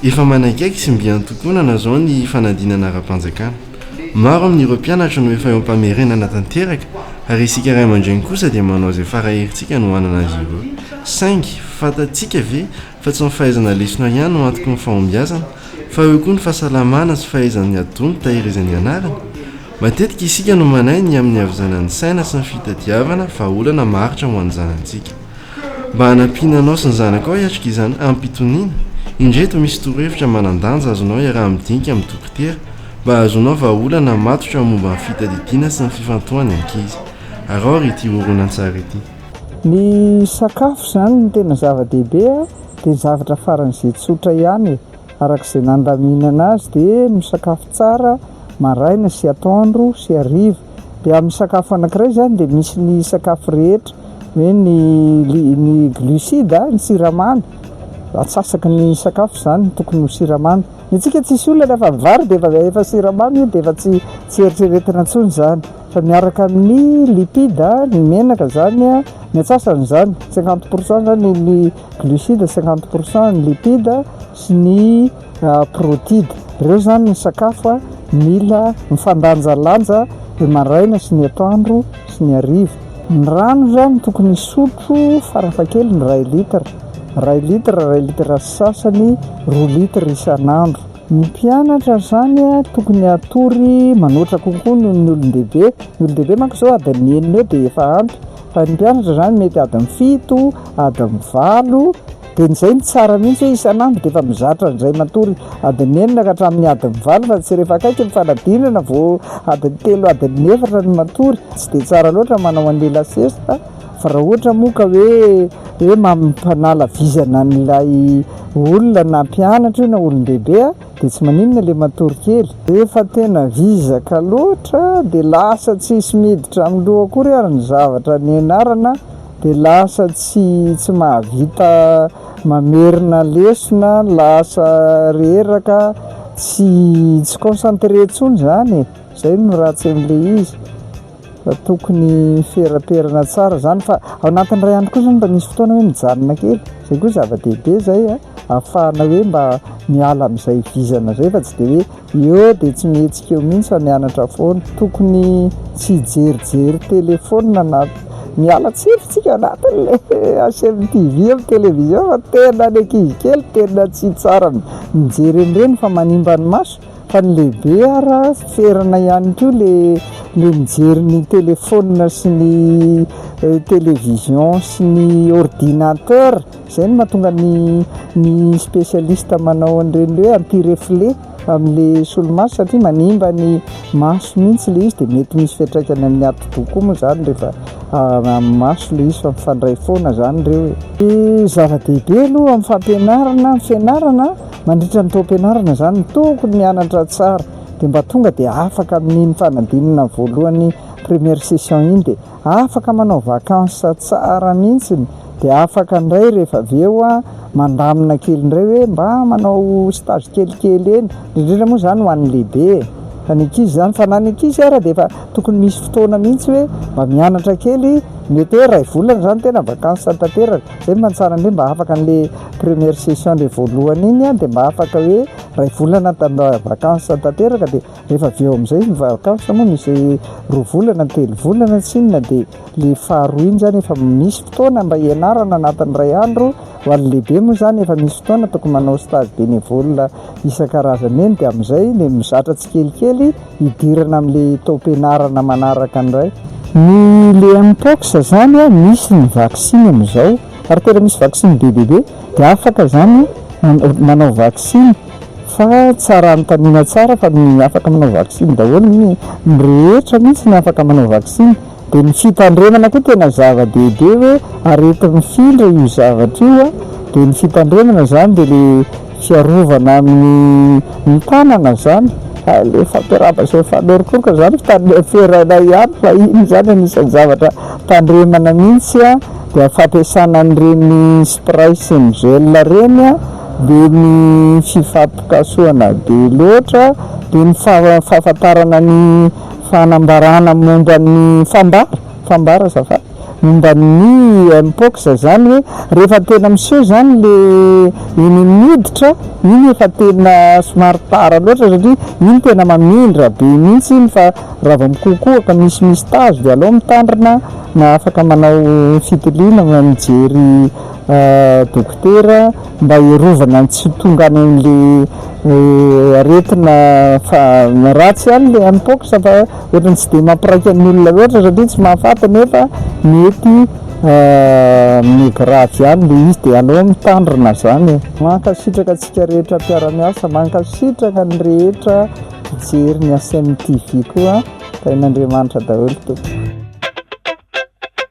Efa manaikaiky sy mby antontonana izao ny fanadinana ara-panjakana. Maro amin'ireo mpianatra no efa eo am-pamerenana tanteraka ary isika ray aman-dreny kosa dia manao izay fara herintsika no hanana azy ireo. Saingy, fantatsika ve fa tsy ny fahaizana lesona ihany no antoky ny fahombiazana fa eo koa ny fahasalamana sy fahaizan'ny adonto tahirizan'ny anarana? Matetika isika no manahy ny amin'ny havizanan'ny saina sy ny fitadiavana vahaolana maharitra ho an'ny zanantsika. Mba hanampiana anao sy ny zanakao hiatrika izany amim-pitoniana, indreto misy torohevitra manan-danja azonao iaraha-midinika amin'ny dokotera mba hahazoanao vahaolana matotra momba ny fitadidiana sy ny fifantohan ny ankizy. Araho ary ity horonantsary ity. Ny sakafo izany no tena zava-dehibe a! Dia ny zavatra faran'izay tsotra ihany e! Araka izay nandaminana azy dia misakafo tsara maraina sy atoandro sy hariva. Dia amin'ny sakafo anankiray izany dia misy ny sakafo rehetra hoe ny ny glucide, ny siramamy, atsasaky ny sakafo izany no tokony ho siramamy. Ny antsika tsisy olana rehefa vary dia efa efa siramamy io dia efa tsy tsy eritreretina intsony izany fa miaraka amin'ny lipide, ny menaka izany, ny antsasany izany, cinquante pour cent izany ny glucides cinquante pour cent, ny lipides sy ny protides. Ireo izany ny sakafo mila mifandanjalanja ny maraina sy ny atoandro sy ny hariva. Ny rano izany tokony hisotro farafahakeliny iray litre, iray litre, iray litre sy sasany, roa litre isan'andro. Ny mpianatra izany tokony hatory manoatra kokoa noho ny olon-dehibe. Ny olon-dehibe manko izao adiny enina eo dia efa ampy. Ny mpianatra izany mety adiny fito, adiny valo, dia izay no tsara mihintsy hoe isan'andro dia efa mizatra an'izay matory adiny enina ka hatramin'ny adiny valo fa tsy rehefa akaiky ny fanadinana vao adiny telo, adiny efatra no matory, tsy dia tsara loatra manao an'ilay la sieste fa raha ohatra moa ka hoe hoe mampanala vizana an'ilay olona na mpianatra io na olon-dehibe a! Dia tsy maninona le matory kely. Efa tena vizaka loatra dia lasa tsisy miditra amin'ny loha akory ary ny zavatra nianarana dia lasa tsy tsy mahavita mamerina lesona, lasa reraka, tsy tsy concentré intsony zany e! Zay no ratsy an'ilay izy. Tokony ferapherana tsara zany fa ao anatin'ny iray andro koa zany mba misy fotoana hoe mijanona kely, zay koa zava-dehibe zay a, ahafahana hoe mba miala amin'izay vizana zay fa tsy de hoe eo de tsy mihetsika eo mihintsy fa mianatra foana, tokony tsy hijerijery téléphone na miala tsiny tsika anatin'le asehon'ny TV amin'ny télévision fa tena ny ankizy kely tena tsy tsara mijery an'ireny fa manimba ny maso. Fa ny lehibe ara ferana ihany koa ilay mijery ny telephone sy ny television sy ny ordinateur, izay no mahatonga ny ny specialiste manao an'ireny hoe anti reflet amin'ilay solomaso satria manimba ny maso mihintsy ilay izy dia mety misy fiantraikany amin'ny atidoha koa moa izany rehefa amin'ny maso ilay izy fa mifandray foana izany ireo e! Ny zava-dehibe aloha amin'ny fampianarana ny fianarana Mandritra ny taom-pianarana izany no tokony mianatra tsara dia mba tonga dia afaka amin'iny fanadinana voalohany première session iny dia afaka manao vacances tsara mihitsy dia afaka indray rehefa avy eo mandamina kely indray hoe mba manao stage kelikely eny, indrindra indrindra moa izany ho an'ny lehibe e! fa ny ankizy izany fa na ny ankizy ary dia efa tokony misy fotoana mihitsy hoe mba mianatra kely mety hoe iray volana izany tena vacances tanteraka. Zay mba ny tsara indrindra mba afaka anle première session le voalohany iny a de mba afaka hoe ray volana tanda vacances tanteraka de rehefa avy eo amzay ny vacances moa misy roa volana na telo volana tsy inona de le faharoa iny zany efa misy fotoana mba hianarana anatin'ny ray andro ho an'ny lehibe moa zany efa misy fotoana tokony manao stage bénévole isan-karazany eny de amzay le mizatra tsikelikely hidirana amin'ilay taom-pianarana manaraka indray. Ny le Mpox zany misy ny vaksiny amin'izao ary tena misy vaksiny be dia be dia afaka izany manao vaksiny fa tsara anontaniana tsara fa ny afaka manao vaksiny daholo ny rehetra mihintsy ny afaka manao vaksiny. Dia ny fitandremana koa tena zava-dehibe hoe aretina mifindra io zavatra io a, dia ny fitandremana izany dia le fiarovana amin'ny ny tanana izany, hay le fampiarahaba sy mifanorokorka izany fitandre- fiherainay ihany fa iny izany anisan'ny zavatra tandremana mihintsy a, dia fampiasana an'ireny spray sy ny gel ireny a, dia ny fifampikasohana be loatra, dia ny fahafantarana ny. Fanambarana momba ny fambara, fambara azafady, momba ny Mpox zany hoe rehefa tena miseho zany le iny miditra iny efa tena somary tara loatra satria iny tena mamindra be mintsy iny fa raha vao mikokoaka misy misy tazo de aleo mitandrina na afaka manao fitiliana na mijery Dokotera mba hiarovana ny tsy tonga any amle aretina fa ratsy any le mpox fa ohatrany tsy de mampiraika ny olona loatra satria tsy mahafaty nefa mety hahamehy gravy any le izy de aleo mitandrina zany e. Mankasitraka antsika rehetra mpiara-miasa, mankasitraka ny rehetra mpijery ny HMTV koa, tahin'Andriamanitra daholo tompoko.